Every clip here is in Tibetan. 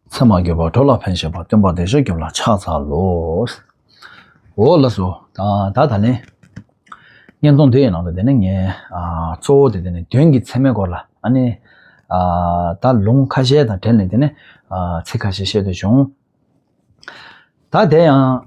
མཚན་མ་འགྱུར་བ་གྲོགས་ལ་ཕན་བྱེད་པ་སྟོན་པ་བདེ་མཆོག་སྐྱོབ་ལ་ཕྱག་འཚལ་ལོ། འོ་ལགས་སོ། ད་ད་ནི། བརྙན་ཐུང་འདི་ཡི་ནང་དུ་དེ་ནི་ངས་གཙོ་བོ་དེ་དེ་ནི་དོན་གྱི་ཚད་མའི་སྐོར་ལ་ཨ་ནི། ད་ལུང་ཁ་ཤས་དང་བྲལ་ནས་དེ་ནི་ཚིག་ཁ་ཤས་བཤད་འདོད་བྱུང། ད་དེ་ཡང།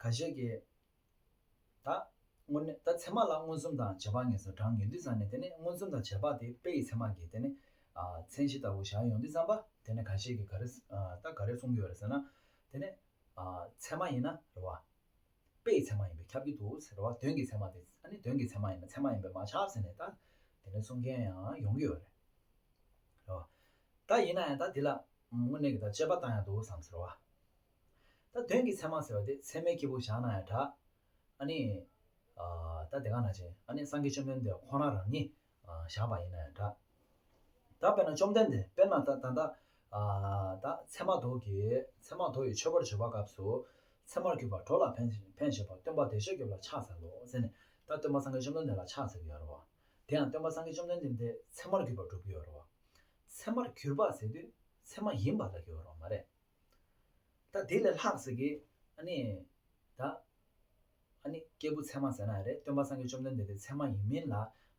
ག་ཞེས་ཀྱི། ད། སྔོན་ནི་ད་ཚད་མ་ལ་མངོན་སུམ་དང་བྱེད་པ་ངེས་སོ་བགྲང་ངེས་ལུས་བསམས་ནས་དེ་ནི་མངོན་སུམ་དང་བྱེད་པ་དེ་དཔེ་ཡི་ཚད་མ་གྱིས་དེ་ནི། མཚན་གཞི་ལྟ་བུ་བཞག་ཡོང་དུས་བསམས་པ་དེ་ནི་ག་ཞེས་ཀྱི་ག་རེ། ད་ག་རེ་གསུངས་ཀྱི་ཡོད་རེད་ཟེར་ན། དེ་ནི། ཚད་མ་ཡིན་ན་རེད་བ། དཔེ་ཡི་ཚད་མ་ཡིན་པས་ཁྱབ་ཀྱི་འདུག་ཟེར་བ་དོན་གྱི་ཚད་མ་དེ་ནི་དོན་གྱི་ཚད་མ་ཡིན་ན་ཚད་མ་ཡིན་པས་མ་ཆགས་ཟེར་ནས་ད། དེ་ནི་གསུང་མཁན་ཡང་ཡོང་གི་ཡོད་རེད། རེད་བ། ད་ཡིན་ན་ཡང་ད་དེ་ལ། དངོས་གནས་ཀྱི་ད་དཔྱད་པ་བཏང་ཡང་འདུག་བསམས་ཟེར་བ། ད་དོན་གྱི་མཚན་མ་ཟེར་བ་དེ་མཚན་མའི་སྐྱེས་བུ་བཞག་ན་ཡང་འདྲ། ཨ་ནི། ད་དེ་ག་ན་བྱེད་ཨ་ནི་སངས་རྒྱས་བཅོམ་ལྡན་འདས་ཁོང་རང་རང་ཉིད་བཞག་པ་ཡིན་ན་ཡང་འདྲ། ད་དཔེར་ན་བཅོམ་ལྡན་འདས་དཔེར་ན་ད་ད། ད་ཚད་མ་དོ་གི་ཚད་མ་དོ་ཡི་མཆོད་པར་བརྗོད་པ་སྐབས་སུ། ཚད་མར་གྱུར་པ་གྲོགས་ལ་ཕན་ཕན་བྱེད་པ་སྟོན་པ་བདེ་གཤེགས་སྐྱོབ་ལ་ཕྱག་འཚལ་ལོ་ཟེར་ནས་ད་སྟོན་པ་སངས་རྒྱས་བཅོམ་ལྡན་འདས་ལ་ཕྱག་འཚལ་གྱི་ཡོད་རེད་བ། དེ་ཡང་སྟོན་པ་སངས་རྒྱས་བཅོམ་ལྡན་འདས་ཚད་མར་གྱུར་པ་བསྒྲུབ་ཀྱི་ཡོད་རེད་བ། ཚད་མར་གྱུར་པ་ཟེར་དུས་ཚད་མ་ཡིན་པ་ལ་གྱུར་བ་རོ་མ་རེད། ད་དེ་ལས་ལྷག་ཟེར་གི། ཨ་ནི། ད། ཨ་ནི། སྐྱེས་བུ་ཚད་མ་ཟེར་ན་རེད་སྟོན་པ་སངས་རྒྱས་བཅོམ་ལྡན་འདས་དེ་ཚད་མ་ཡིན་མིན་ལ།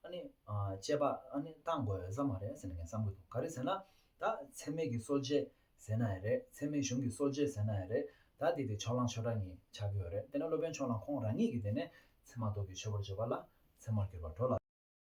ཨ་ནི། དཔྱད་པ། ཨ་ནི། གཏང་དགོས་ས་མ་རེད་ཟེར་ནས་ངས་བསམ་གྱི་འདུག་ག་རེ་ཟེར་ན། ད། ཚད་མེད་ཀྱི་གསོ་དཔྱད་ཟེར་ན་ཡང་རེད་ཚད་མེད་གཞུང་གི་གསོ་དཔྱད་ཟེར་ན་ཡང་རེད་ད་དེ་དེ་ཕྱོགས་གླང་ཆོས་གྲགས་གཉིས་ཆགས་ཀྱི་ཡོད་རེད་དེ་ནས་སློབ་དཔོན་ཕྱོགས་གླང་ཁོང་རང་ཉིད་ཀྱིས་དེ་ནས། ཚད་མ་ལྡོག་གི་ཆོས་པར་བརྗོད་པ་ལ། ཚད་མར་གྱུར་པར་འགྲོ་ལ།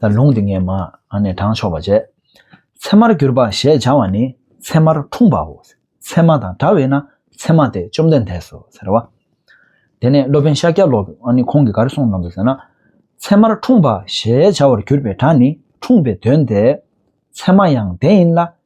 ལ་ལུང་འདི་ངས་མ། ནས་དྲངས་ཆོག་པར་བྱས། ཚེར་མར་གྱུར་པ་ཞེས་བྱ་བ་ནི་ཚེར་མར་འཁྲུངས་པའོ། ཚེར་མ་དང་འདྲ་བས་ན་ཚེར་མ་སྟེ་བཅོམ་ལྡན་འདས་སོ་ཟེར་རོ། དེ་ནས་སློབ་དཔོན་ཤཱཀྱ་ལོ་ཀ་ཁོང་གིས་གར་གསུངས་གནང་ཟེར་ན། ཚེར་མར་འཁྲུངས་པ་ཞེས་བྱ་བར་གྱུར་པའི་སྒྲ་ནི་འཁྲུངས་པའི་དོན་ཏེ། ཚེར་མ་ཡང་དེ་ཡིན་ལ་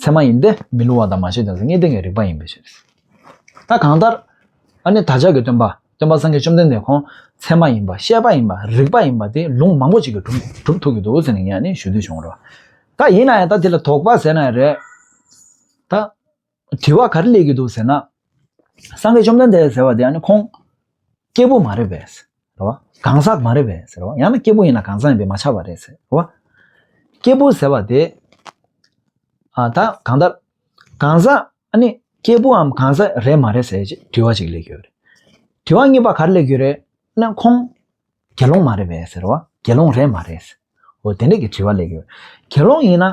ཚད་མ་ཡིན་ཏེ་མི་སླུ་བ་དང་མ་ཤེས་ཀྱང་ངེས་བསྟན་གྱི་རིགས་པ་ཡིན་པའི་ཕྱིར། ད་གང་ལྟར། ཨ་ནི་བདག་ཅག་གི་སྟོན་པ་སྟོན་པ་སངས་རྒྱས་བཅོམ་ལྡན་འདས་ཁོང་ཚད་མ་ཡིན་པ་ཤེས་པ་ཡིན་པ་རིགས་པ་ཡིན་པ་དེ་ལུང་མང་པོ་ཅིག་གིས་གྲུབ་ཐུབ་ཀྱི་འདུག་ཟེར་ནས་ངས་ནི་ཞུ་འདོད་བྱུང་རོགས། ད་ཡིན་ན་ཡང་ད་དེ་ལ་དོགས་པ་ཟེར་ན་ཡང་རེད། ད། དྲི་བ་ག་རེ་སླེབས་ཀྱི་འདུག་ཟེར་ན། སངས་རྒྱས་བཅོམ་ལྡན་འདས་ཟེར་བ་དེ་ཨ་ནི་ཁོང། སྐྱེས་བུ་མ་རེད་པས། རེད་བ། གང་ཟག་མ་རེད་བས་ཟེར་བ། ཡང་ན་སྐྱེས་བུ་ཡིན་ན་གང་ཟག་ཡིན་པས་མ་ཆགས་པ་རེད་ཟེར་བ། སྐྱེས་བུ་ཟེར་བ་དེ། ཨ་ད་གང་ལྟར། གང་ཟག་ཨ་ནི་སྐྱེས་བུའམ་གང་ཟག་རེད་མ་རེད་ཟེར་ཅིག་དྲི་བ་ཅིག་སླེབས་ཀྱི་ཡོད་རེད། དྲི་བ་གཉིས་པ་ག་རེ་སླེབས་ཀྱི་ཡོད་རེད་ན་ཁོང། དགེ་སློང་མ་རེད་བས་ཟེར་བ། དགེ་སློང་རེད་མ་རེད། འོ་དེ་འདྲ་གི་དྲི་བ་སླེབས་ཀྱི་ཡོད། དགེ་སློང་ཡིན་ན།